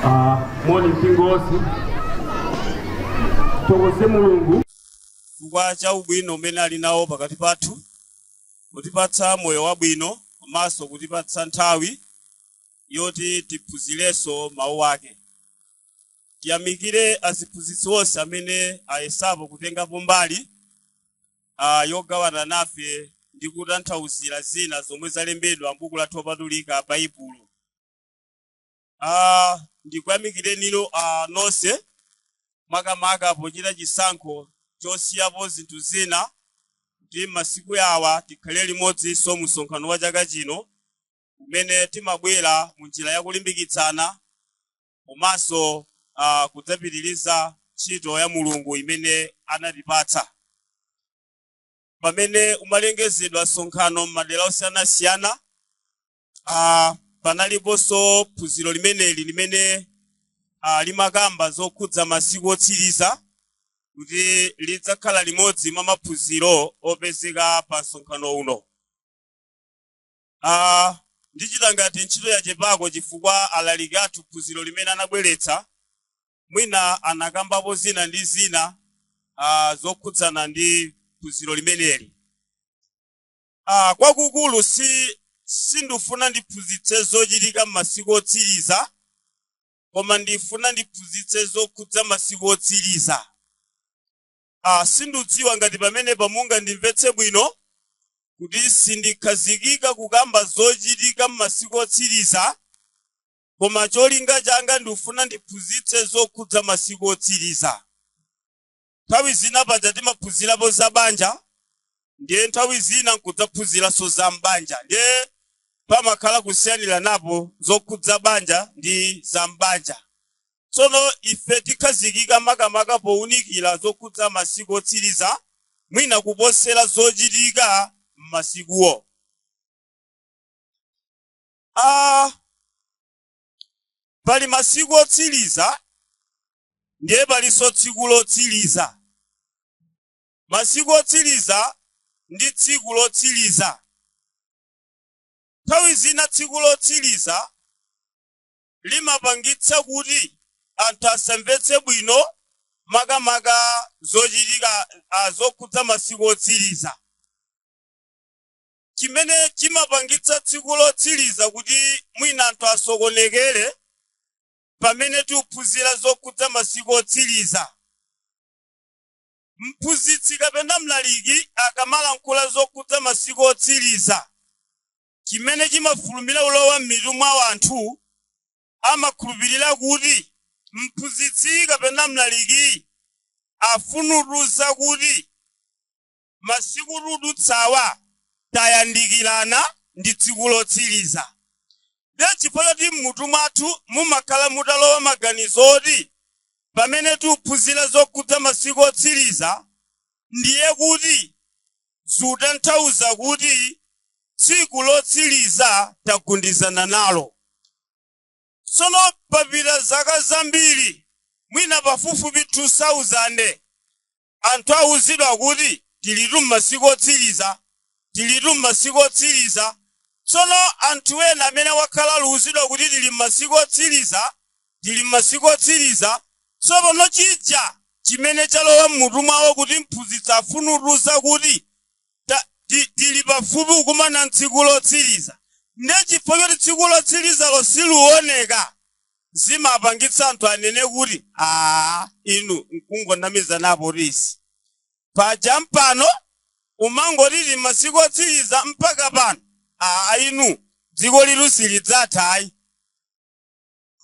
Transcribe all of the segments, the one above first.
Ah, moni mpingo wonse tithokoze mulungu chifukwa cha ubwino umene ali nawo pakati pathu kutipatsa moyo wabwino komanso kutipatsa nthawi yoti tiphunzirenso mawu ake tiyamikire aziphunzitsi onse amene ayesapo kutengapo mbali a. Yogawana nafe ndi kutanthauzira zina zomwe zalembedwa m'Buku lathu Lopatulika, Baibulo. a. Ndikuyamikirenino a, nonse makamaka pochita chisankho chosiyapo zinthu zina kuti m'masiku awa tikhale limodzinso mu msonkhano wa chaka chino umene timabwera mu njira ya kulimbikitsana komanso uh, kudzapitiriza ntchito ya mulungu imene anatipatsa pamene umalengezedwa msonkhano m'madera osiyanasiyana uh, panaliponso phunziro limeneli limene uh, limakamba zokhudza masiku otsiriza kuti lidzakhala limodzi mwa maphunziro opezeka pa msonkhano uno Ah, ndichita ngati ntchito yachepako chifukwa alaliki athu phunziro limene anabweretsa mwina anakambapo zina ndi zina ah, zokhudzana ndi phunziro limeneli ah, kwakukulu si sindifuna ndiphunzitse zochitika m'masiku otsiriza koma ndifuna ndiphunzitse zokhudza masiku otsiriza a sindidziwa ngati pamenepa mungandimvetse bwino kuti sindikhazikika kukamba zochitika m'masiku otsiriza koma cholinga changa ndikufuna ndiphunzitse zokhudza masiku otsiriza nthawi zina paja timaphunzirapo za banja ndiye nthawi zina nkudzaphunziranso za m'banja ndiye pamakhala kusiyaniranapo zokhudza banja ndi za m'banja Tsono ife tikhazikika makamaka pounikira zokhudza masiku otsiriza, mwina kuposera zochitika m'masikuwo. a Pali masiku otsiriza ndiye palinso tsiku lotsiriza. Masiku otsiriza ndi tsiku lotsiriza. Nthawi zina tsiku lotsiriza limapangitsa kuti anthu asamvetse bwino makamaka zochitika ah, zokhudza masiku otsiriza. Chimene chimapangitsa tsiku lotsiriza kuti mwina anthu asokonekere pamene tikuphunzira zokhudza masiku otsiriza. Mphunzitsi kapena mlaliki akamalankhula zokhudza masiku otsiriza, chimene chimafulumira ulowa m'mitu mwa anthu amakhulupirira kuti mphunzitsi kapena mlaliki afunutuza kuti masiku tudutsawa, tayandikirana ndi tsiku lotsiriza. Ndiye chifukwa choti m'mutu mwathu mumakhala mutalowa maganizo oti pamene tiuphunzira zokhudza masiku otsiriza ndiye kuti zutanthauza kuti tsiku lotsiliza tagundizana nalo. Tsono papita zaka zambiri mwina pafupifupi 2000 anthu awuzidwa kuti tilitu m'masiku otsiliza, tilitu m'masiku otsiliza. Tsono anthu ena amene akhala aluwuzidwa kuti tili m'masiku otsiliza tili m'masiku otsiriza, tsopano chija chimene chalowa m'mutu mwawo kuti mphunzitsi afunutuza kuti ta, ti, tili pafupi kukumana ntsiku lotsiriza. Ndiye chifukwa choti tsiku lotsirizalo siluoneka, zimapangitsa anthu anene kuti, Aa, inu nkungonamizanapo izi. Paja mpaka pano umangoti tili m'masiku otsiriza mpaka pano. Aa, inu dziko ilitu silidzatha ayi.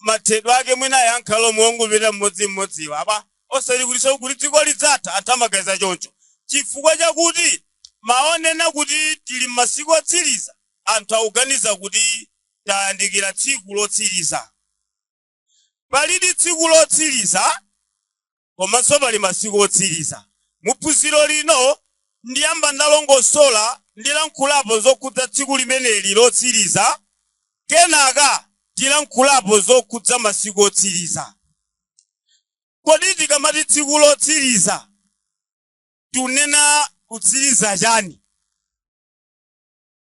mathedwe ake mwina angakhale omwe ongopita mmodzimmodziwa apa osati kutinso kuti dziko lidzatha anthu amaganiza choncho chifukwa chakuti mawu onena kuti tili m'masiku otsiriza anthu akuganiza kuti tayandikira tsiku lotsiriza palidi tsiku lotsiriza komanso pali masiku otsiriza. Mu phunziro lino, ndiyamba ndalongosola ndilankhulapo zokhudza tsiku limeneli lotsiriza, kenaka tilankhulapo zokhudza masiku otsiriza. Kodi tikamati tsiku lotsiriza tunena kutsiriza chani?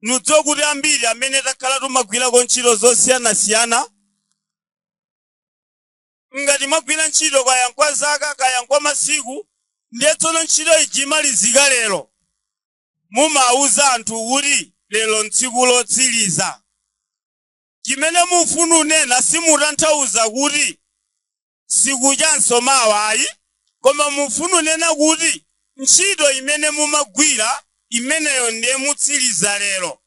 Mudziwa kuti ambiri amene takhala tumagwirako ntchito zosiyanasiyana Ngati mwagwira ntchito kaya nkwa zaka kaya nkwa masiku ndiye tsono ntchito ija imalizika lero, mumauza anthu kuti lero ntsiku lotsiliza. Chimene mufuna unena simutanthauza kuti sikuchanso mawa ayi koma mufuna unena kuti ntchito imene mumagwira imeneyo ndiye mutsiliza lero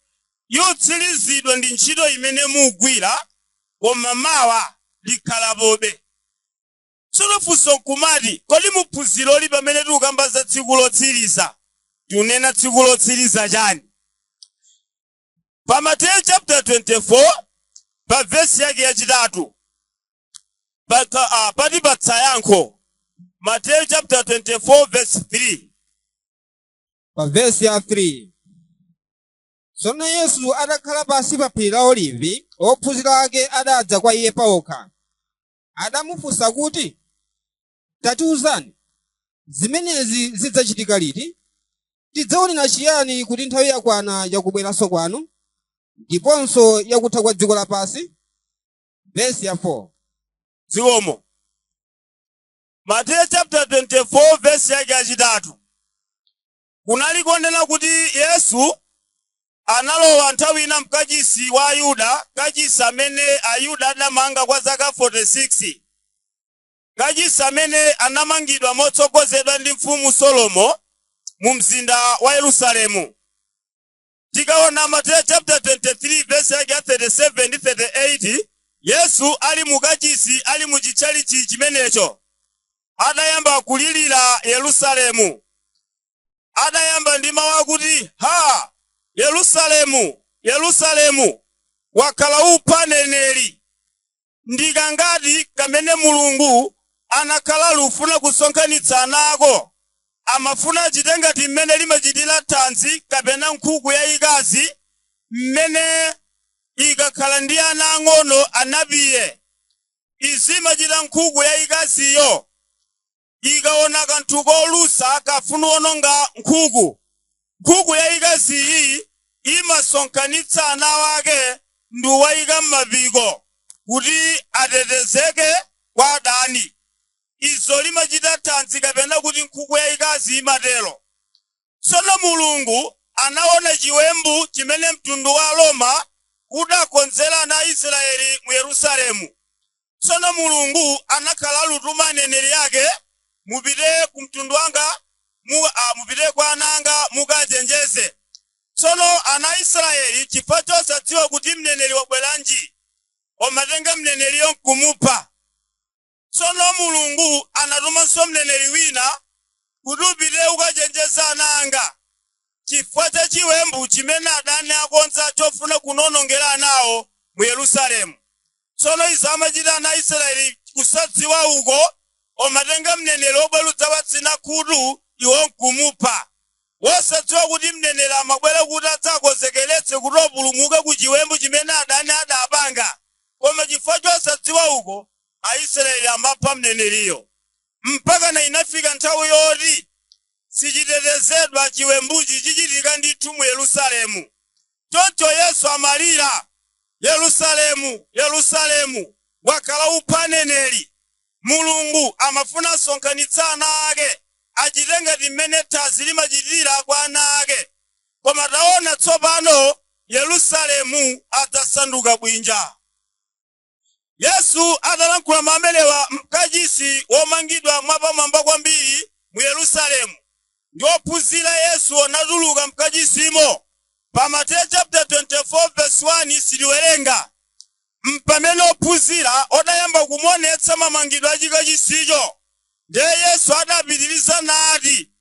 yotsilizidwa ndi ntchito imene mugwira koma mawa likhalapobe. Tsono funso nkumati kodi muphunziroli pamene tikukamba za tsiku lotsiriza tikunena tsiku lotsiriza chani? Pa Mateyu chapter 24 pa vesi yake yachitatu paka, uh, patipatsa yankho Mateyu chapter 24 verse 3 pa vesi ya 3 Tsono Yesu atakhala pansi pa phiri la Olivi, ophunzira ake adadza kwa Iye paokha. Adamufunsa kuti, Tatiwuzani, zimenezi zidzachitika liti? Tidzaonera chiyani kuti nthawi yakwana yakubweranso kwanu, ndiponso yakutha kwa dziko lapansi? Vesi ya 4. Zikomo. Mateyu chapter 24 verse yake yachitatu. kunali kunena kuti Yesu analowa nthawi ina m'kachisi wa Ayuda, kachisi amene Ayuda adamanga kwa zaka 46, kachisi amene anamangidwa motsogozedwa ndi Mfumu Solomo mumzinda wa Yerusalemu. Tikaona Mateyu chapter 23 verse yake ya 37 ndi 38, Yesu ali mu kachisi, ali mu chitchalichi chimenecho, adayamba kulilira Yerusalemu. Adayamba ndi mawu akuti, ha, Yerusalemu, Yerusalemu, wakhala upha aneneri Ndi kangati kamene Mulungu anakhala akufuna kusonkhanitsa ana ako? Amafuna achite ngati mmene limachitira thadzi kapena nkhuku yayikazi mmene ikakhala ndi ana ang'ono anapiye. Izi imachita nkhuku yayikaziyo. ikaona kanthu kolusa kafuna kuononga nkhuku, nkhuku yayikazi iyi imasonkhanitsa ana ake ndi kuwayika mmapiko kuti atetezeke kwa adani. Izo limachita thadzi kapena kuti nkhuku yayikazi imatero. Tsono Mulungu anaona chiwembu chimene mtundu wa Aroma udakonzera ana a Israele mu Yerusalemu. Tsono Mulungu anakhala akutuma aneneri ake, Mupite ku mtundu wanga, mu a, mupite kwa ana anga mukaachenjeze. Tsono ana a Israele, chifukwa chosadziwa kuti mneneri wabweranji, amatenga mneneriyo nkumupha. Tsono Mulungu anatumanso mneneri wina kuti, Upite ukachenjeze ana anga chifukwa cha chiwembu chimene adani akonza chofuna kundiwonongera anawo mu Yerusalemu. Tsono izi amachita ana a Israeli kusadziwa uko, omatenga mneneri obwera udzawatsina khutu iwo nkumupha, wosadziwa kuti mneneri amabwera kuti adzawakonzekeretse kuti opulumuke ku chiwembu chimene adani adapanga, koma chifukwa chosadziwa uko, Aisraeli amapha mneneriyo mpakana inafika nthawi yoti sichitetezedwa, chiwembuchi chichitika ndithu mu Yerusalemu. Choncho Yesu amalira, Yerusalemu, Yerusalemu, wakhala upha aneneri! Mulungu amafuna asonkhanitse ana ake, achite ngati mmene thadzi limachitira kwa ana ake. Koma taona tsopano, Yerusalemu adzasanduka bwinja. Yesu atalankhula mawu amenewa m'kachisi womangidwa mwapamwamba kwambiri mu Yerusalemu, ndi ophunzira Yesu anatuluka m'kachisimo. Pa Mateyu chaputala 24 vesi 1 sitiwerenga m'pamene ophunzira odayamba kumuonetsa mamangidwe a chikachisicho. Ndiye Yesu adapitiriza nati,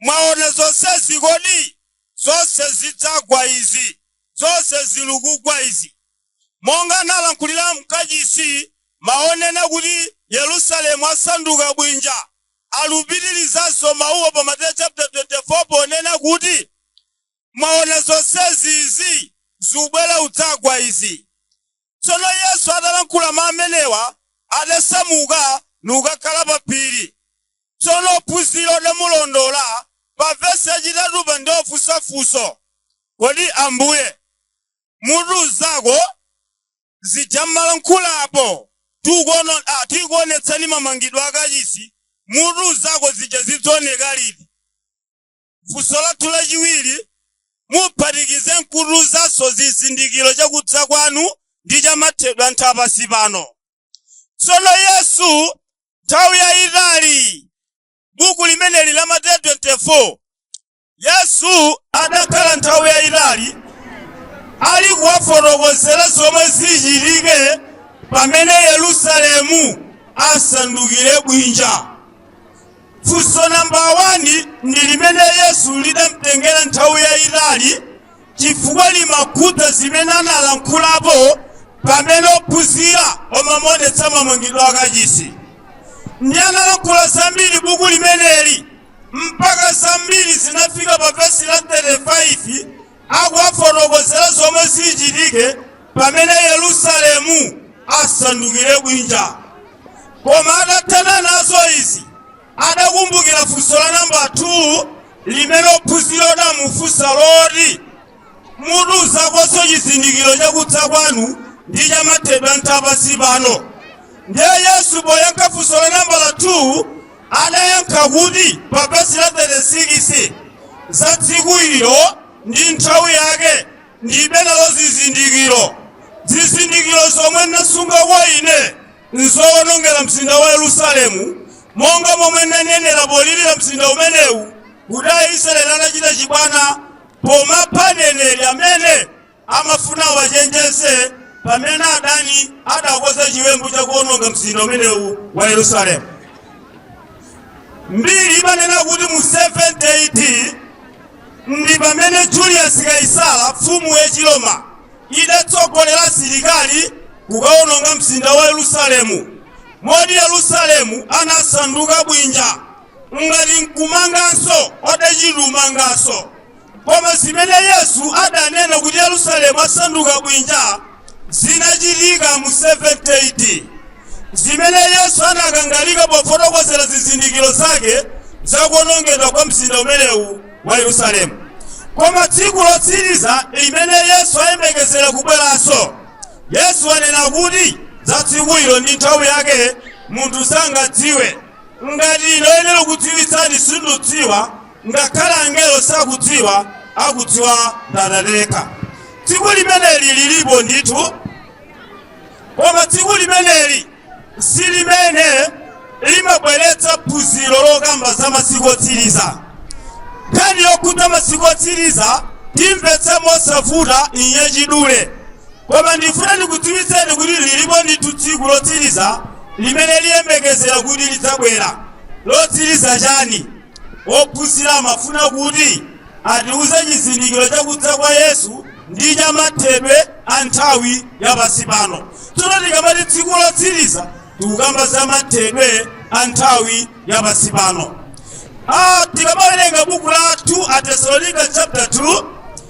Mwaona zonsezi kodi? Zonse zidzagwa izi, zonse zilukugwa izi. monga analankhulira m'kachisi, mawu onena kuti Yerusalemu asanduka bwinja alupitirizanso mawuwo pa Mateyu chaputala 24 ponena kuti, Mwaona zonsezi, izi zubwera udzagwa izi. Tsono Yesu atalankhula mawu amenewa, adasamuka nukakhala pa phiri. Tsono ophunzira odamulondola. Pa vesi yachitatupa ndiye ofunsa funso, Kodi Ambuye, mutiuzeko zija mmalankhula apo tikuonetsani mamangidwe akachisi mutiuzeko zija zidzaoneka liti funso lathu lachiwiri muphatikize nkutiuzanso zizindikiro chakudza kwanu ndi chamathedwe a nthawi ya pansi pano tsono yesu nthawi yayitali buku limeneli la mateyu 24 yesu adakhala nthawi yayitali ali kuwafotokozera zomwe zichitike pamene yerusalemu asandukire bwinja funso namba 1 ndi limene yesu lidamtengera nthawi yayitali chifukwa limakhudza zimene analankhulapo pamene ophunzira amamuonetsa mamangidwe akachisi ndi analankhula zambiri buku limeneli mpaka zambiri zinafika pa vesi la 35 akuwafotokozera zomwe zichitike pamene yerusalemu asandukire bwinja koma atathana nazo izi adakumbukira funso la nambala 2 limene ophunzira odamufunsa loti mutiuzekonso chizindikiro chakudza kwanu ndi chamathedwe a nthawi pansi pano. Ndiye Yesu poyankha funso la nambala 2 adayankha kuti pa vesi la 36 za tsiku ilo ndi nthawi yake ndibe nalo zizindikiro. Zizindikiro zomwe ndasunga kwa ine nzowonongera mzinda wa Yerusalemu, monga momwe ndanenera polirira mzinda umenewu kuti Aisraele anachita chibwana Pomapha aneneri amene amafuna awachenjeze pamene adani adakonza chiwembu cha kuononga mzinda umenewu wa Yerusalemu. Mbiri imanena kuti mu 70 AD ndi pamene Julius Kaisara mfumu yachiroma idatsogolera asilikali kukaononga mzinda wa Yerusalemu moti Yerusalemu anasanduka bwinja ngati nkumanganso odachita kumanganso koma zimene yesu adanena kuti yerusalemu asanduka bwinja zinachitika mu 70 AD zimene yesu anakangalika pofotokozera zizindikiro zake zakuonongedwa kwa mzinda umenewu wa yerusalemu koma tsiku lotsiriza limene yesu ayembekezera kubweranso yesu anena kuti za tsiku ilo ndi nthawi yake munthu sangadziwe Ngati ine oyenera kukudziwitsani sindudziwa, ngakhale angelo sakudziwa, akudziwa ndi Atate yekha. Tsiku limeneli lilipo ndithu, koma tsiku limeneli si limene limabweretsa phunziro lokamba za masiku otsiriza. Nkhani yokhudza masiku otsiriza timvetse mosavuta mwachidule, koma ndifuna ndikudziwitseni kuti lilipo ndithu tsiku lotsiriza limene liyembekezera kuti lidzabwera lotsiriza chani? Ophunzira amafuna kuti atiuze chizindikiro cha kudza kwa Yesu ndi cha mathedwe a nthawi ya pansi pano. Tsono tikamati tsiku lotsiriza tikukamba za mathedwe a nthawi ya pansi pano. Ah, tikamawerenga buku la 2 Atesalonika chapter 2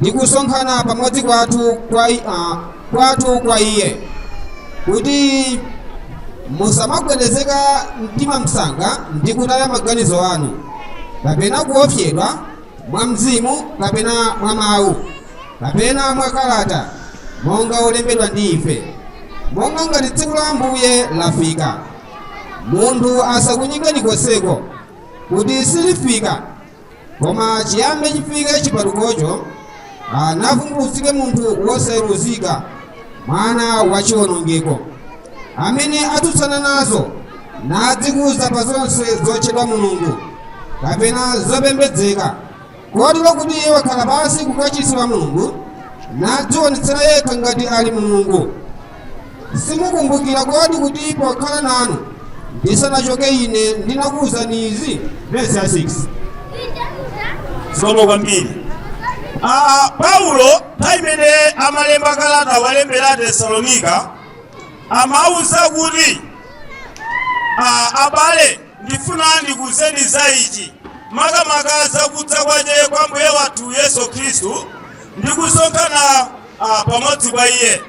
ndi kusonkhana pamodzi kwathu kwa, i- ah, kwathu kwa iye kuti musamagwedezeka mtima msanga ndi kutaya maganizo anu kapena kuopsedwa mwa mzimu kapena mwa mawu kapena mwa kalata monga olembedwa ndi ife monga ngati tsiku la ambuye lafika munthu asakunyengeni konseko kuti silifika koma chiyambe chifike chipatukocho navumbulutsike munthu wosayeruzika mwana wa chiwonongeko amene atsutsana nazo nadzikuza pa zonse zotchedwa mulungu kapena zopembedzeka kotero kuti iye wakhala pansi kukachisi wa mulungu nadzionetsera yekha ngati ali mulungu Simukumbukira kodi kuti pokhala nanu ndisanachoke ine ndinakuwuzani izi? Vesi ya 6. Zikomo kwambiri. Ah, Paulo nthawi imene amalemba kalata kuwalembera Atesalonika amawuza kuti ah, abale ndifuna ndikuwuzeni za ichi makamaka za kudza kwache kwa Mbuye wathu Yesu Khristu ndi kusonkhana ah, pamodzi kwa iye.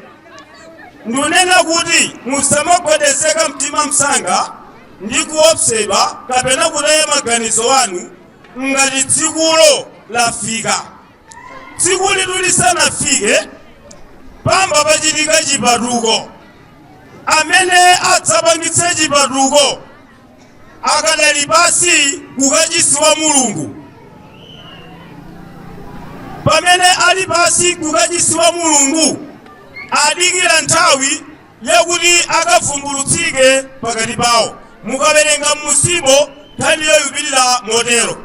ndunena kuti musamagwedezeka mtima msanga ndi kuopsedwa kapena kutaya maganizo anu ngati tsikulo lafika tsikulitu lisanafike payamba pachitika chipatuko amene adzapangitse chipatuko akadali pansi kukachisi wa mulungu pamene ali pansi kukachisi wa mulungu adikira nthawi yakuti akavumbulutsike pakati pawo mukawerenga m'musimo nkhani ikupitirira motero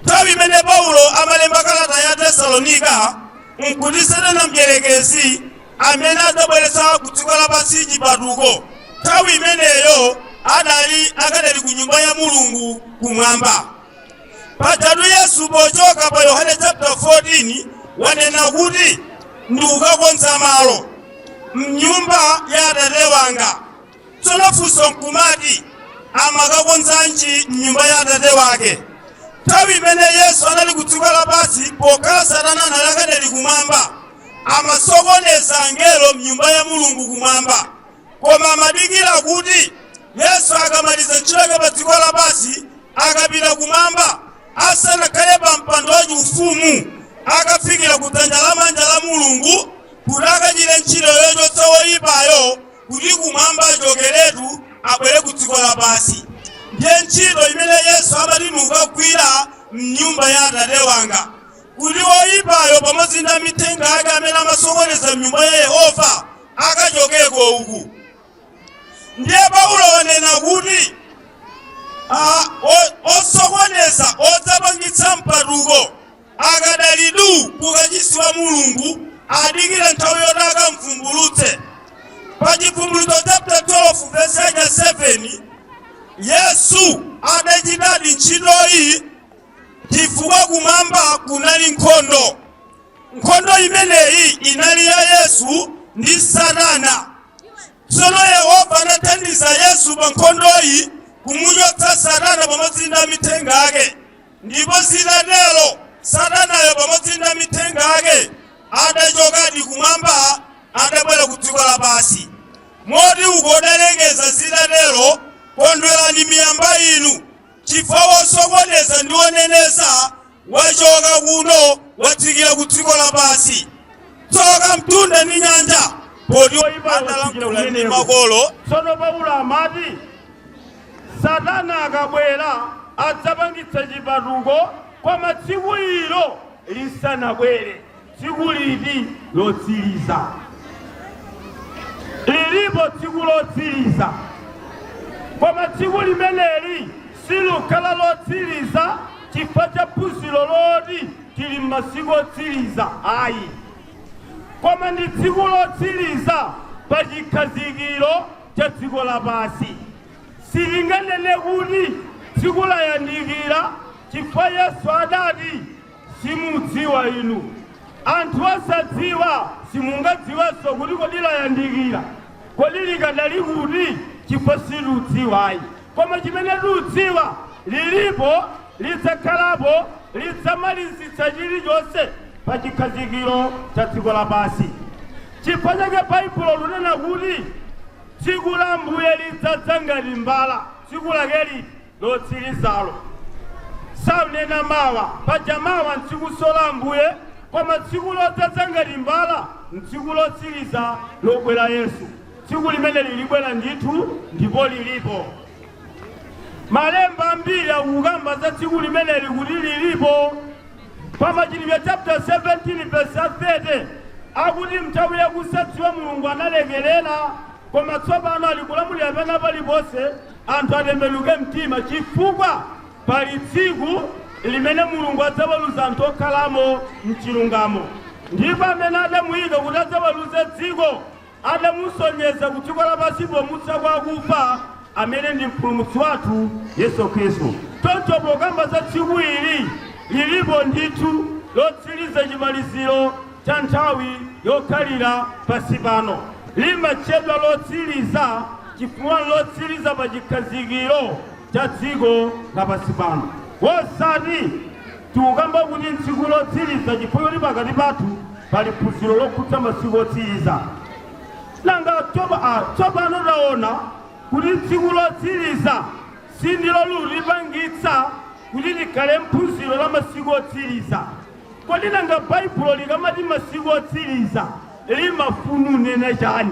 nthawi imene paulo amalemba kalata ya tesalonika nkuti satana mdyerekezi amene adzabweretse ku dziko lapansi chipatuko. Nthawi imeneyo adali akadali ku nyumba ya Mulungu kumwamba. Pajatu Yesu pochoka pa Yohane chapter 14 wanena kuti ndikukakonza malo m'nyumba ya Atate wanga. Tsono funso nkumati, amakakonzanji m'nyumba ya Atate wake? Nthawi imene Yesu anali ku dziko lapansi, pokhala Satana anali akadali kumwamba, amasokoneza angelo m'nyumba ya Mulungu kumwamba. Koma amadikira kuti Yesu akamaliza ntchito yake pa dziko lapansi, akapita kumwamba, asanakhale pa mpando wachifumu, akafikira ku dzanja lamanja la Mulungu kuti akachite ntchito yochotsa woyipayo kuti kumwamba achokeretu abwere ku dziko lapansi. Ndiye ntchito imene Yesu amati n'kukagwira m'nyumba ya Atate wanga, kuti woyipayo pamodzi ndi amithenga ake amene amasokoneza m'nyumba ya Yehova akachokeko uku. Ndiye Paulo wanena kuti ah, o- osokoneza odzapangitsa mpatuko Akadali du ku kachisi wa Mulungu, adikira nthawi yoti akamvumbulutse. Pa Chibvumbulutso chaputala 12 vesi yake ya 7, Yesu adachitadi ntchitoyi chifukwa kumwamba kunali nkhondo. Nkhondo imeneyi inali ya Yesu ndi Satana. Tsono Yehova adathandiza Yesu pa nkhondoyi kumuchotsa Satana pamodzi ndi amithenga ake. Ndipo zitatero, Satanayo pamodzi ndi amithenga ake adachokadi Kumwamba, adabwera ku dziko lapansi. Moti uko udalengeza, zitatero, Kondwerani miyamba inu, chifukwa wosokoneza ndi woneneza wachoka kuno, watsikira ku dziko lapansi. Tsoka mtunda ndi nyanja! Poti adalankhula ndi makolo. Tsono Paulo amati. Satana akabwera, adzapangitsa chipatuko koma tsiku ilo lisanabwere. Tsiku liti? Lotsiriza. Lilipo tsiku lotsiriza, koma tsiku limeneli silukhala lotsiriza chifukwa cha phunziro loti tili m'masiku otsiriza ayi, koma ndi tsiku lotsiriza pa chikhazikiro cha dziko lapansi. Sitinganene kuti tsiku layandikira chifukwa Yesu adati, Simudziwa inu. Anthu osadziwa simungadziwenso kuti kodi layandikira, kodi likadali kuti chifukwa sitiudziwayi. Koma chimene tiudziwa lilipo lidzakhalapo lidzamalizitsa chirichonse pa chikhazikiro cha dziko lapansi. Chifukwa chake Baibulo lunena kuti tsiku la Ambuye lidzadza ngati mbala, tsiku lakeli lotsirizalo. Saunena mawa, paja mawa ntsikuso la Ambuye, koma tsiku lodzadza ngati mbala ntsiku lotsiriza lobwera Yesu. Tsiku limeneli libwera ndithu ndipo lilipo. Malemba ambiri akukamba za tsiku limeneli kuti lilipo. Pa Machitidwe chapter 17 verse 30 akuti mnthawi yakusadziwa Mulungu analekerera, koma tsopano ali kulamulira pena paliponse anthu atembenuke mtima chifukwa pali tsiku limene Mulungu adzaweruza anthu okhalamo mchilungamo ndipo amene adamuyika kuti adzaweruze dziko adamusonyeza ku dziko lapansi pomutsa kwa akufa, amene ndi Mpulumutsi wathu Yesu Khristu. Choncho pokamba za tsiku ili, lilipo ndithu lotsiriza chimaliziro cha nthawi yokhalira pansi pano. Limatchedwa lotsiriza chifukwa nlotsiriza pa chikhazikiro. cha dziko lapansi pano. Osati tikukamba kuti tsiku lotsiriza chifukwa kuti pakati pathu pali phunziro lokhudza masiku otsiriza. Nanga tsopa- ah, tsopano taona kuti tsiku lotsiriza sindilo likupangitsa kuti likhale phunziro la masiku otsiriza. Kodi nanga Baibulo likamati masiku otsiriza limafuna kunena chani?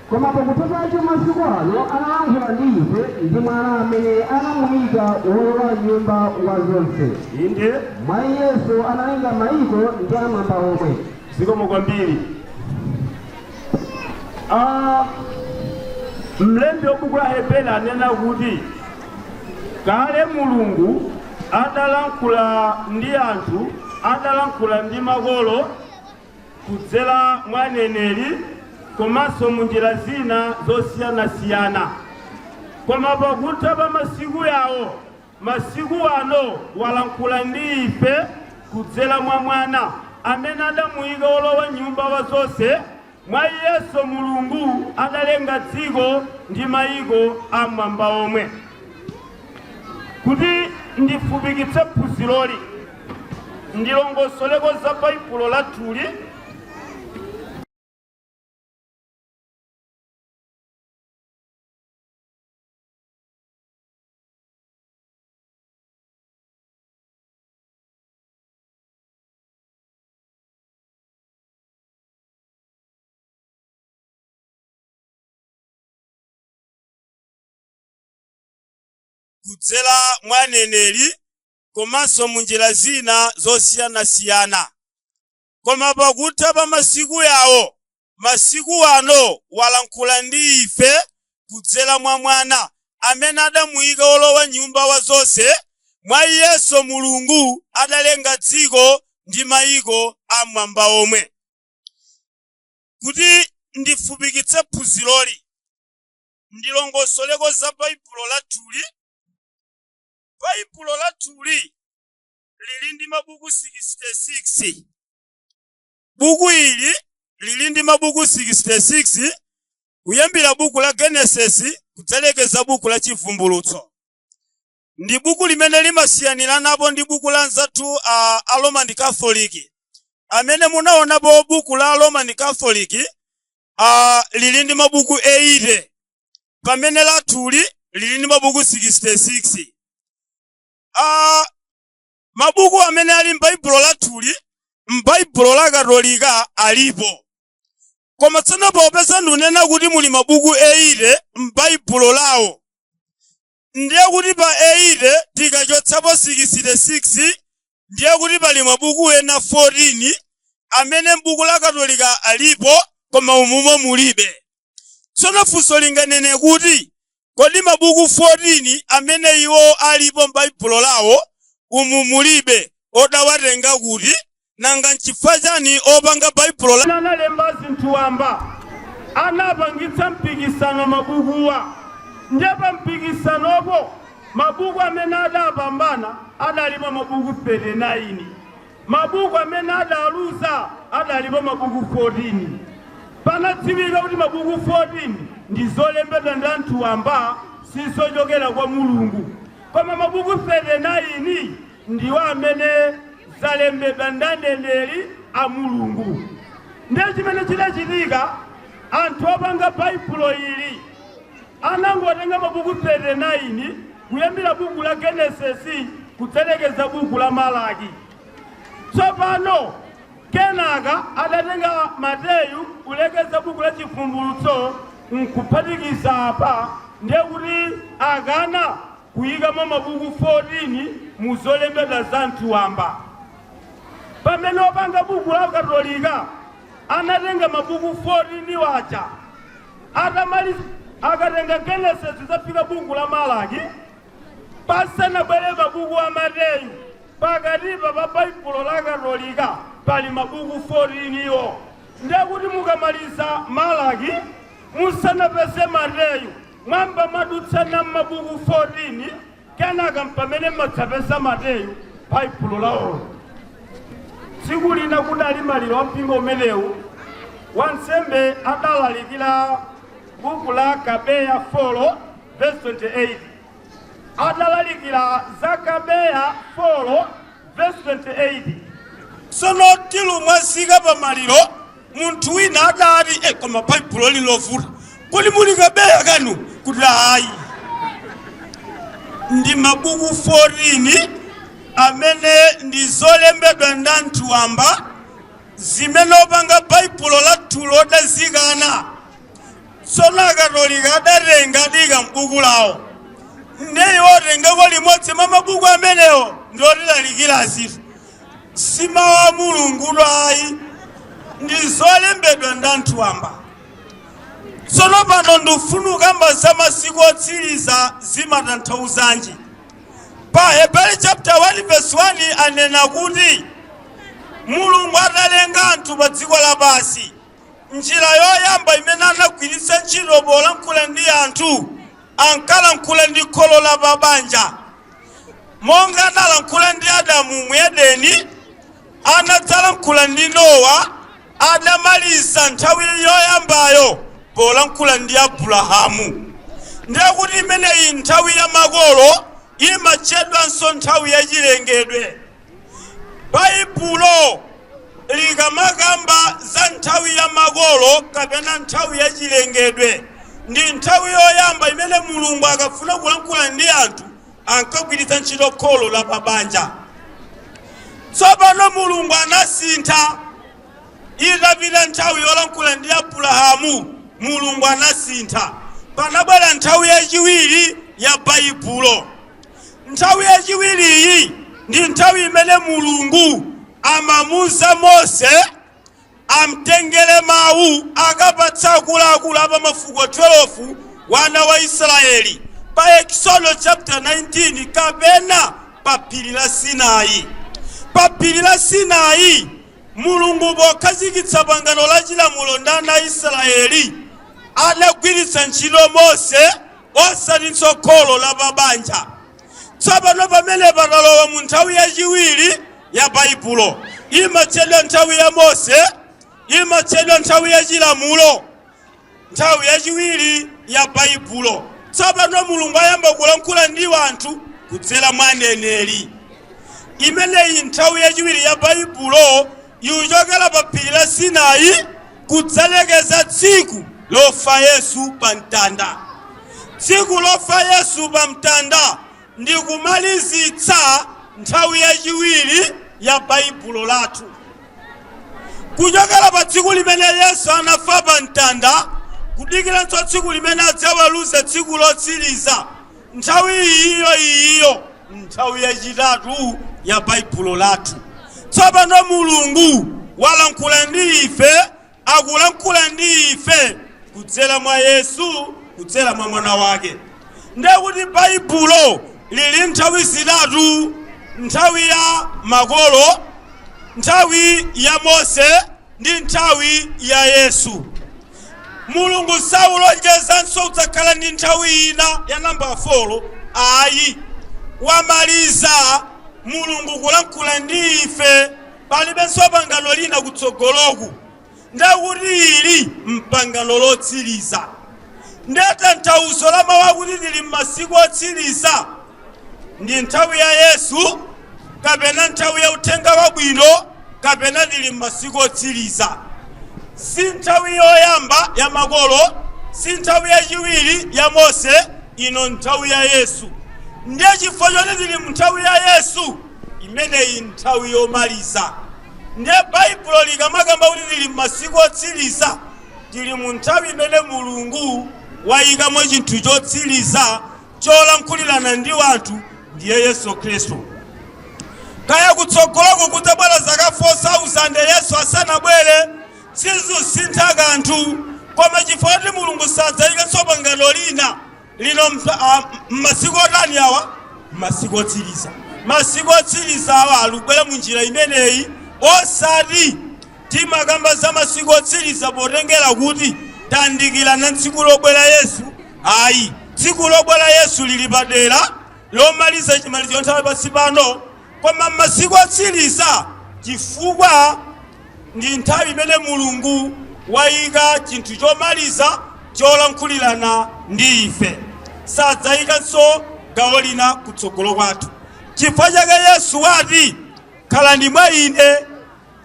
Koma pakutha pache masiku ano analankhula ndi ife ndi Mwana amene anamuika wolowa nyumba wa zonse, Inde. mwa Iyenso analenga maiko ndi amwamba omwe. Zikomo kwambiri. Ah, mlembi wa buku la Aheberi anena kuti kale Mulungu adalankhula ndi anthu, adalankhula ndi makolo kudzera mwa aneneri komanso mu njira zina zosiyanasiyana. Koma pakutha pa masiku yawo, masiku ano walankhula ndi ife kudzera mwa Mwana, amene adamuyika wolowa nyumba wa zonse, mwa Iyenso Mulungu adalenga dziko ndi mayiko am'mwamba omwe. Kuti ndifupikitse phunziroli, ndilongosoleko za Baibulo lathuli. kudzera mwa aneneri komanso mu njira zina zosiyanasiyana koma pakutha pa masiku yawo masiku ano walankhula ndi ife kudzera mwa mwana amene adamuyika wolowa nyumba wa zonse mwa iyenso mulungu adalenga dziko ndi mayiko amwamba omwe kuti ndifupikitse phunziroli ndilongosoleko za Baibulo lathuli. Baibulo lathuli lili ndi mabuku 66. Buku ili lili ndi mabuku 66 kuyambira buku la Genesis kudzalekeza buku la Chivumbulutso. ndi buku limene limasiyaniranapo ndi buku la anzathu a, a roman catholic amene munaonapo buku la roman catholic a, lili ndi mabuku 80 pamene lathuli lili ndi mabuku 66 a, mabuku amene ali m'baibulo lathuli m'baibulo la katolika alipo koma tsono popeza ndunena kuti muli mabuku 80 m'baibulo lawo Ndiye kuti pa 80 tikachotsapo 66, ndiye kuti pali mabuku ena 14 amene m'buku la Katolika alipo koma umumo mulibe. Tsono funso linganene kuti, Kodi mabuku 14 amene iwo alipo m'Baibulo lawo, umu mulibe, odawatenga kuti? Nanga n'chifukwa chani opanga Baibulo la. analemba zinthu wamba anapangitsa mpikisano mabukuwa nde pa mpikisanopo mabuku amene adapambana adalipo mabuku 39 mabuku amene adaluza adalipo mabuku 14 panadziwika kuti mabuku 14 ndi zolembedwa ndi anthu wamba sizochokera kwa mulungu koma mabuku 39 ndiwo amene zalembedwa ndi aneneri a mulungu ndiye chimene chidachitika anthu opanga baibulo ili anangotenga mabuku 39 kuyambira buku la genesisi kudzalekeza buku la malaki tsopano kenaka adatenga mateyu kulekeza buku la chivumbulutso nkuphatikiza apa ndiye kuti akana kuyikamo mabuku 14 mu zolembedwa za anthu wamba. Pamene opanga buku la katolika anatenga mabuku 14 waja atamaliza akatenga Genesis kuzafika buku la Malaki pasanabwere mabuku a Mateyu pakatipa pa Baibulo la katolika pali mabuku 14 iwo ndekuti mukamaliza Malaki musanapeze Mateyu Muyamba mwadutsa na m'mabuku 14, kenaka m'pamene m'madzapeza Mateyu Baibulo lawolo. Tsiku lina kudali maliro a mpingo umenewu, wansembe adalalikira buku la Makabeya 4 vesi 28. Adalalikira Makabeya 4 vesi 28. Sono tilumwazika pa maliro Munthu wina adati, E, koma Baibulo ili novuta. Kodi muli Makabeyo kwanu? Kuti, Ayi. Ndi mabuku 14 amene ndi zolembedwa ndi anthu wamba zimene opanga Baibulo lathulo adazikana. Tsono Akatolika adatenga naika m'buku lawo. Ndiye watengako limodzi mwa mabuku amenewo ndi kutilalikira azitu. si mawu a mulungu ayi ndi zolembedwa ndi anthu wamba tsono pano ndifuna kukamba za masiku otsiriza zimatanthauzanji pa heberi chapter 1 verse 1 anena kuti mulungu atalenga anthu pa dziko lapansi njira yoyamba imene anagwiritsa ntchito polankhula ndi anthu ankalankhula ndi kholo la pabanja Monga analankhula ndi Adamu mu Edeni, anadzalankhula ndi Nowa adamaliza nthawi yoyambayo polankhula ndi Abulahamu. Ndiye kuti imeneyi, nthawi ya makolo, imatchedwanso nthawi ya chilengedwe. Baibulo likamakamba za nthawi ya makolo kapena nthawi ya chilengedwe, ndi nthawi yoyamba imene Mulungu akafuna kulankhula ndi anthu ankagwiritsa ntchito kholo la pabanja. Tsopano Mulungu anasintha. Itapita nthawi yolankhula ndi Abulahamu, Mulungu anasintha. Panabwera nthawi yachiwiri ya Baibulo. Nthawi yachiwiriyi ndi nthawi imene Mulungu amamuza Mose amtengere mawu akapatse akuluakulu a pa mafuko 12 wana wa Israeli pa Eksodo chapter 19 kapena pa phiri la Sinai. Pa phiri la Sinai Mulungu pokhazikitsa pangano la chilamulo ndi ana a Israeli anagwiritsa ntchito Mose osatinso kholo la pa banja. Tsopano, pamenepa takalowa mu nthawi yachiwiri ya Baibulo. Imatchedwa nthawi ya Mose, imatchedwa nthawi ya chilamulo, nthawi yachiwiri ya Baibulo. Tsopano Mulungu ayamba kulankhula ndi anthu kudzera mwa aneneri. Imeneyi nthawi yachiwiri ya Baibulo Ikuchokera pa phiri la Sinai kudzalekeza tsiku lofa Yesu pa mtanda. Tsiku lofa Yesu pa mtanda ndi kumalizitsa nthawi yachiwiri ya Baibulo lathu. Kuchokera pa tsiku limene Yesu anafa pa mtanda kudikiranso tsiku limene adzaweruze tsiku lotsiriza, Nthawi iyiyo iyiyo, nthawi yachitatu ya Baibulo lathu. Tsopano Mulungu walankhula ndi ife, akulankhula ndi ife kudzera mwa Yesu, kudzera mwa Mwana Wake. Ndiye kuti Baibulo lili nthawi zitatu, nthawi ya makolo, nthawi ya Mose, ndi nthawi ya Yesu. Mulungu saulonjezanso kudzakhala ndi nthawi ina ya nambala folo ayi. Wamaliza Mulungu kulankhula ndi ife, palibenso pangano lina kutsogoloku. Ndekuti ili m'pangano lotsiriza. Nde tanthauzo la mawu akuti tili m'masiku otsiriza ndi nthawi ya Yesu kapena nthawi ya uthenga wabwino kapena tili m'masiku otsiriza. Si nthawi yoyamba ya makolo, si nthawi yachiwiri ya Mose, ino nthawi ya Yesu. Ndiye chifukwa choti tili mu nthawi ya Yesu, imeneyi nthawi yomaliza. Ndiye Baibulo likamakamba kuti tili m'masiku otsiriza, tili mu nthawi imene Mulungu wayikamo chinthu chotsiriza cholankhulirana ndi anthu ndiye Yesu Khristu. Kaya kutsogoloku kudzabwera zaka 4,000 Yesu asanabwere, sizusintha kanthu, koma chifukwa kuti Mulungu sadzaikanso pangano lina lino m'masiku otani awa, m'masiku otsiriza. Masiku otsiriza awa alubwera mu njira imeneyi, osati Timakamba za masiku otsiliza potengela kuti tandikilana tsiku lobwela Yesu? Ayi. Tsiku lobwela Yesu lili padela, lomaliza cimalizo ca nthawi pansi pano. Koma masiku otsiliza cifukwa ndi nthawi imene Mulungu waika cinthu comaliza colankhulilana ndi ife. Sadzaikanso gawo lina kutsogolo kwathu. Cifukwa cake Yesu wati, Khalani mwa ine.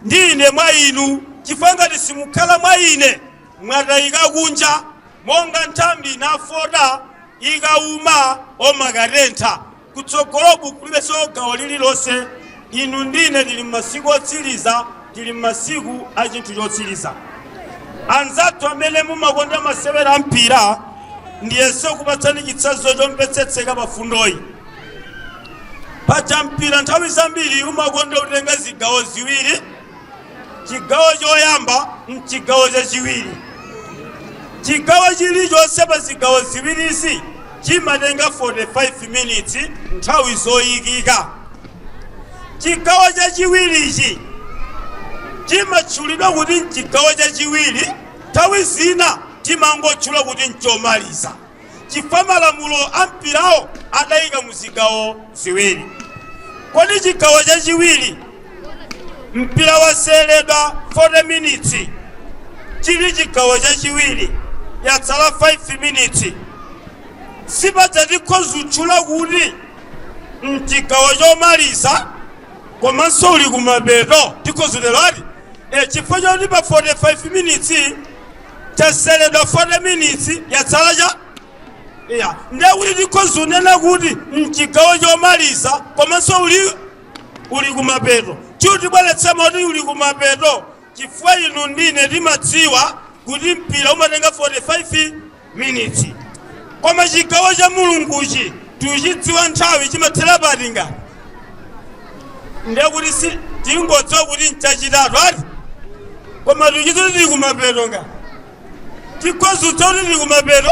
Ndi ine mwa inu, chifukwa ngati simukhala mwa Ine, mwatayika kunja monga nthambi nafota, ikawuma omakatentha, kutsogoloku kulibenso gawo lililonse. Inu ndi ine tili m'masiku otsiriza, tili m'masiku a chinthu chotsiriza. Anzathu amene mumakonda masewera a mpira, ndiyese kupatsani chitsanzo chomvetsetseka pa fundoyi. Paja mpira nthawi zambiri umakonda kutenga zigawo ziwiri, chigawo choyamba n'chigawo chachiwiri. Chigawo chilichonse pa zigawo ziwirizi chimatenga 45 minutes nthawi zoyikika. Chigawo chachiwirichi chimatchulidwa kuti n'chigawo chachiwiri, nthawi zina timangotchula kuti n'chomaliza. chifukwa malamulo a mpirawo adaika mu zigawo ziwiri. Kodi chigawo chachiwiri mpira waseweredwa 40 minutes chili chigawo chachiwiri yatsala 5 minutes si paja tikhozutchula kuti mchigawo chomaliza komanso uli kumapeto tikhozutero ati e chifukwa choti pa 45 minutes Waseweredwa 40 minutes yatsala cha iya ndiye kuti tikhoza unena kuti mchigawo chomaliza komanso uli uli kumapeto chutibweretsa moti uli kumapeto chifukwa inu ndine timadziwa kuti mpira umatenga 45 minutes koma chigawo cha mulunguchi tuchidziwa nthawi chimathera pati ngati ndiye kuti si tingodziwa kuti nchachitatu ati koma tuchidziwa kuti tili kumapeto ngati tikhozudza kuti tili kumapeto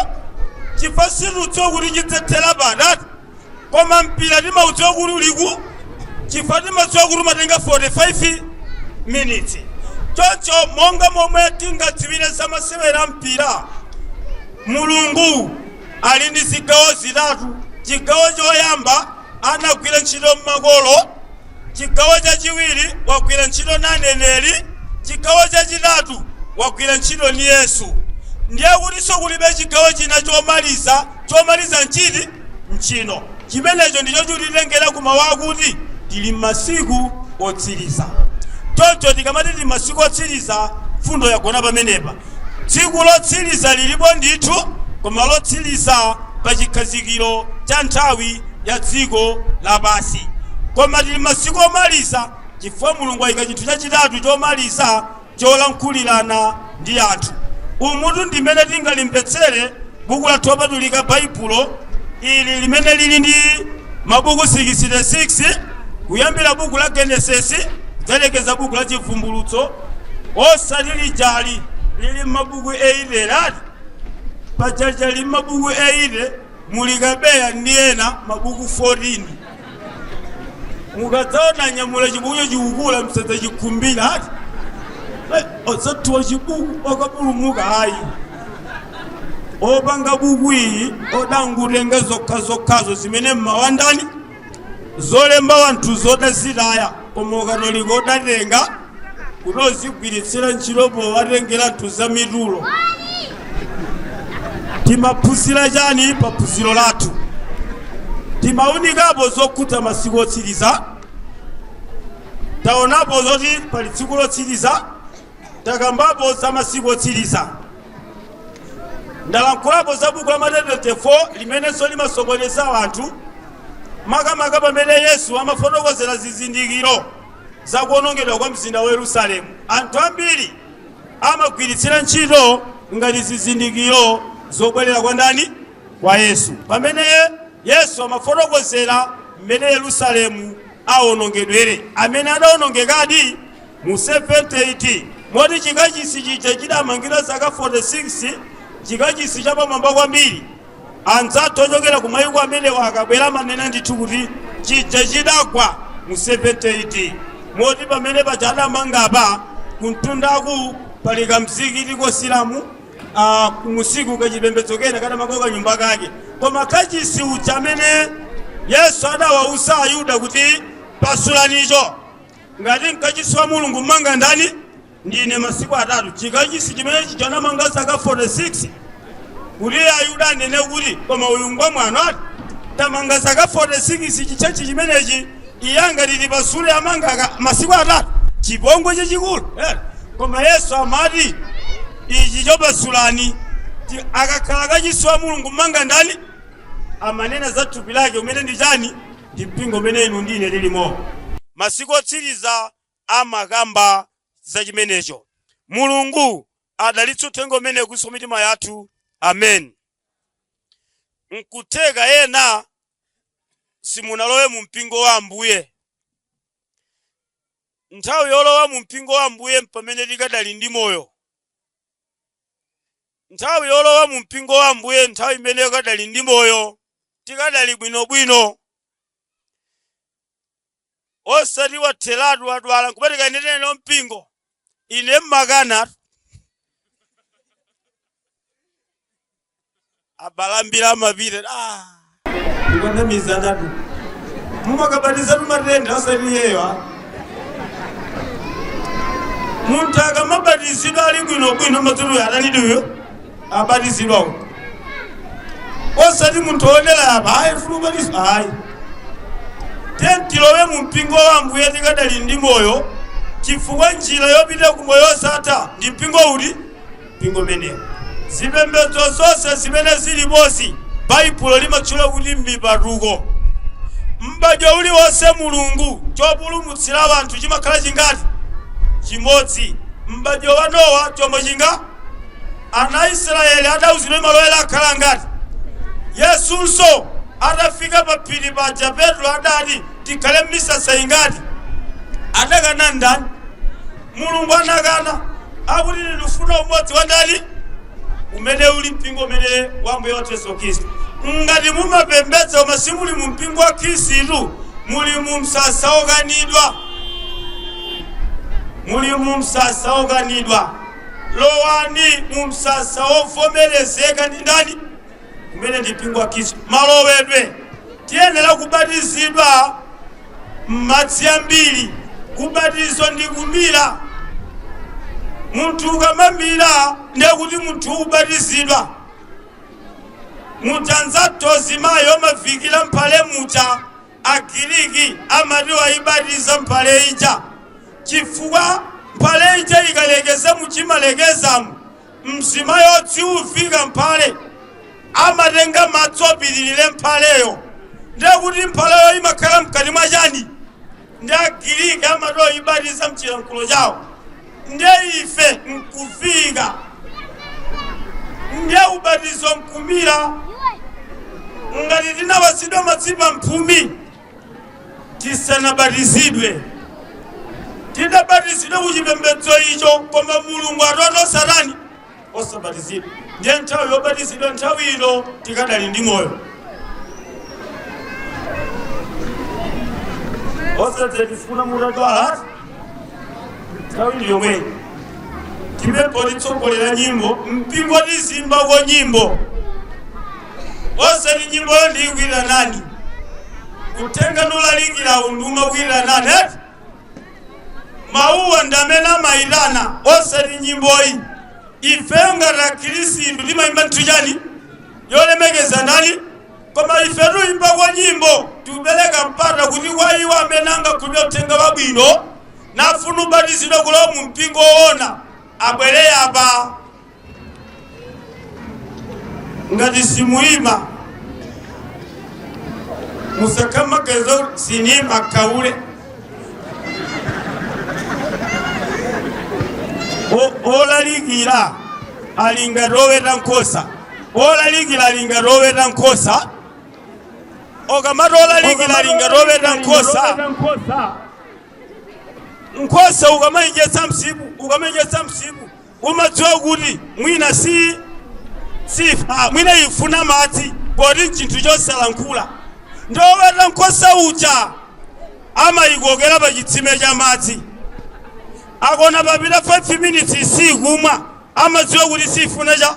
chifukwa situdziwa kuti chidzathera pati ati koma mpira timaudziwa kuti uliku chifukwa timadziwa kuti umatenga 45 minutes choncho monga momwe tingadziwire za masewera a mpira mulungu ali ndi zigawo zitatu. Chigawo choyamba anagwira ntchito m'makolo, chigawo chachiwiri wagwira ntchito na aneneri, chigawo chachitatu wagwira ntchito ni Yesu. Ndiye kutinso kulibe chigawo china chomaliza. Chomaliza n'chiti? N'chino. Chimenecho ndicho chikutitengera ku mawu akuti tili m'masiku otsiriza. Choncho tikamati tili m'masiku otsiriza, mfundo yagona pamenepa. Tsiku lotsiriza liripo ndithu, koma lotsiriza pa chikhazikiro cha nthawi ya dziko lapansi. Koma tiri masiku omaliza chifukwa Mulungu waika chinthu chachitatu chomaliza cholankhulirana ndi anthu. Umutu ndi mmene tingalimvetsere Buku lathu Lopatulika Baibulo ili limene liri ndi mabuku 66 kuyambira Buku la Genesis kudzalekeza Buku la Chibvumbulutso. osati lija lili m'mabuku 80 lati pajaja lili m'mabuku 80 muli kabeya ndiye na mabuku 14 mukadzaona anyamula chibukucho chikukula msadzachikhumbira ati Eh, osati wa chibuku wokapulumuka ayi opanga buku iyi odangutenga zokhazokhazo zimene mma Wandani zolemba wanthuzo odazitaya koma ukatolika udatenga kuti uzigwiritsira ntchito powatengera anthu za mitulo timaphunzira chani pa phunziro lathu timaunikapo zokhudza masiku otsiriza taonapo zoti pali tsiku lotsiriza takambapo za masiku otsiriza ndalankhulapo za buku la mateyu 24 limenenso limasokoneza anthu makamaka pamene yesu amafotokozera zizindikiro za kuonongedwa kwa mzinda wa yerusalemu anthu ambiri amagwiritsira ntchito ngati zizindikiro zobwerera kwa ndani kwa yesu pamene yesu amafotokozera mmene yerusalemu aonongedwere amene adaonongekadi mu 70 AD. Moti chikachisi chija chidamangidwa zaka 46, chikachisi chapamwamba kwambiri. Anzathu ochokera kumayiko amenewa akabwera amanena ndithu kuti chija chidagwa mu 70 AD. Moti pamene paja adamanga apa kumtundaku pali kamzikiti ka Asilamu ah, kumusiku kachipembedzo kena kadamanga kanyumba kake koma kachisi uja amene yesu adawauza ayuda kuti pasulanicho Ngati mkachisi wa Mulungu mmanga ndani? Ndine masiku atatu. Chikachisi chimene chija anamanga zaka 46 kuti Ayuda anene kuti koma uyu ngwamwano ati tamanga zaka 46 chichechi chimenechi iye angati tipasule amanga aka- masiku atatu chipongwe chachikulu eh. Koma Yesu amati ichi cho pasulani Ti- akakhala kachisi wa Mulungu mmanga ndani? amanena za thupi lake umene ndi chani Ndi mpingo umene inu ndi ine tilimo. Masiku otsiriza amakamba za chimenecho. Mulungu adalitse Uthenga umenewo kuswa mitima yathu. Amen. Nkutheka ena simunalowe mu Mpingo wa Ambuye. Nthawi yolowa mu Mpingo wa Ambuye mpamene tikadali ndi moyo. Nthawi yolowa mu mpingo wa Ambuye nthawi imene ukadali ndi moyo, tikadali bwino bwino. Osati watheratu wadwala nkumati kayendereni nawo mpingo. Ine mmakana. abale ambiri amapita ah. ndi kunamizanatu mumakabatizatu matenda osati iyeyo ah. munthu akamabatizidwa ali bwinobwino matutuyo atanidiyo abatizidwawo osati munthu wodera apa ayi fulu ubatizo ayi tiyeni tilowe mu mpingo wa ambuye tikadali ndi moyo chifukwa njira yopita ku moyo osatha ndi mpingo uti mpingo umenewo. Zipembedzo zonse zimene ziripozi, Baibulo limatchula kuti m'mipatuko. M'badwo uliwonse Mulungu, chopulumutsira anthu chimakhala chingati? Chimodzi. M'badwo wa Nowa chombo chinga? Ana a Israyeli adauzidwa malo oyera akhala angati? Yesunso atafika pa phiri paja Petro adati, tikhale m'misasa ingati? Adakana ndani? Mulungu anakana, akuti, Ine ndikufuna umodzi wa ndani? Umene uli mpingo umene wa Ambuye wathu Yesu Khristu. Ngati mumapembedza koma simuli mu mpingo wa Khristu, muli mu msasa wokanidwa. Muli mu msasa wokanidwa. Lowani mu msasa wovomerezeka ndi ndani? umene ndi mpingo wa khristu malowedwe tiyenera kubatizidwa m'madzi ambiri kubatiza ndi kumira munthu ukamamira ndiye kuti munthu ubatizidwa mutadza to zimayi omavikira mphale mucha agiriki amati wayibatiza mphale ija chifukwa mphale ija ikalekeza muchimalekezamo Mzimayi odziwa kuvika mphale amatenga madzi opitilira mphaleyo, ndiye kuti mphaleyo imakhala mkati mwa chani? Ndi Agiriki amati waibatiza mchilankhulo chawo, ndiye ife nkuvika, ndiye ubatizo nkumira ngati tinawazidwa madzi pa mphumi. sitinabatizidwe tinabatizidwa ku chipembedzo icho koma mulungu atoto satani osabatizidwa ndiye nthawi yobatizidwa nthawi ino tikadali ndi moyo osati tifuna mutadwala nthawi ndi yomweyi timembo titsogolera nyimbo mpingo tizimbako nyimbo osati nyimboyo ndiyigwira nani kutenga ndi ulaliki wa unduma gwira nani eti mawuwa ndamene amayitana osati nyimboyi ife ngati akhristu timayimba nthu chani yolemekeza ndani Koma ife tuyimbako nyimbo, tikupeleka mpata kuti kwa iwo amene angakhulupilire uthenga wabwino nafuna ubatizidwa kulowa mu mpingo woona abwele apa. Ngati simuyima, musakamakezo sitimakakamiza. O- olalikira ali ngati oweta nkhosa Olalikira ali ngati oweta nkhosa. Okamati olalikira ali ngati oweta nkhosa, nkhosa ukamaidyetsa msipu, ukamaidyetsa msipu, umadziwa kuti mwina si sifa mwina ifuna madzi poti nchinthu chosalankhula. Ndi oweta nkhosa uja amayikokera pa chitsime cha madzi. Akona papita 5 minutes sikumwa, amadziwa kuti sifuna cha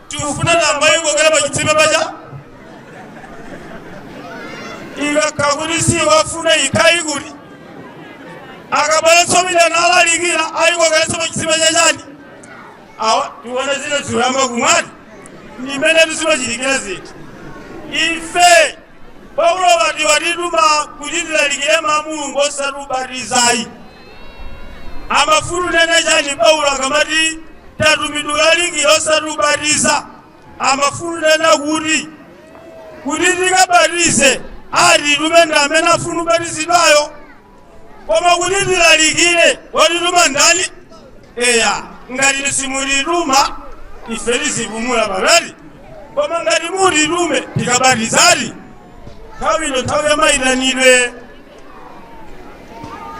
Tikufuna ng'ombe ayikokere pa chitsime paja. Ikakhala kuti siyifuna ikayi kuti. Akabweretsa pita nalalikira ayikokeretse pa chitsime chachani. Awa tiona zina zikuyamba kumwa. Ndi mmene zimachitikira zinthu. Ife Paulo wati watituma kuti tilalikire mawu a Mulungu osati ubatizayi. Amafuna unene chani Paulo akamati tatumidwa kulalikira osati ubatiza? Amafuna unena kuti kuti tikabatize atitume ndi amene afuna ubatizidwayo? Koma kuti tilalikire watituma ndani? Eya ngati simutituma ife tizipumula pakati koma ngati mutitume tikabatizadi nthawi ino nthawi ya mayitanidwe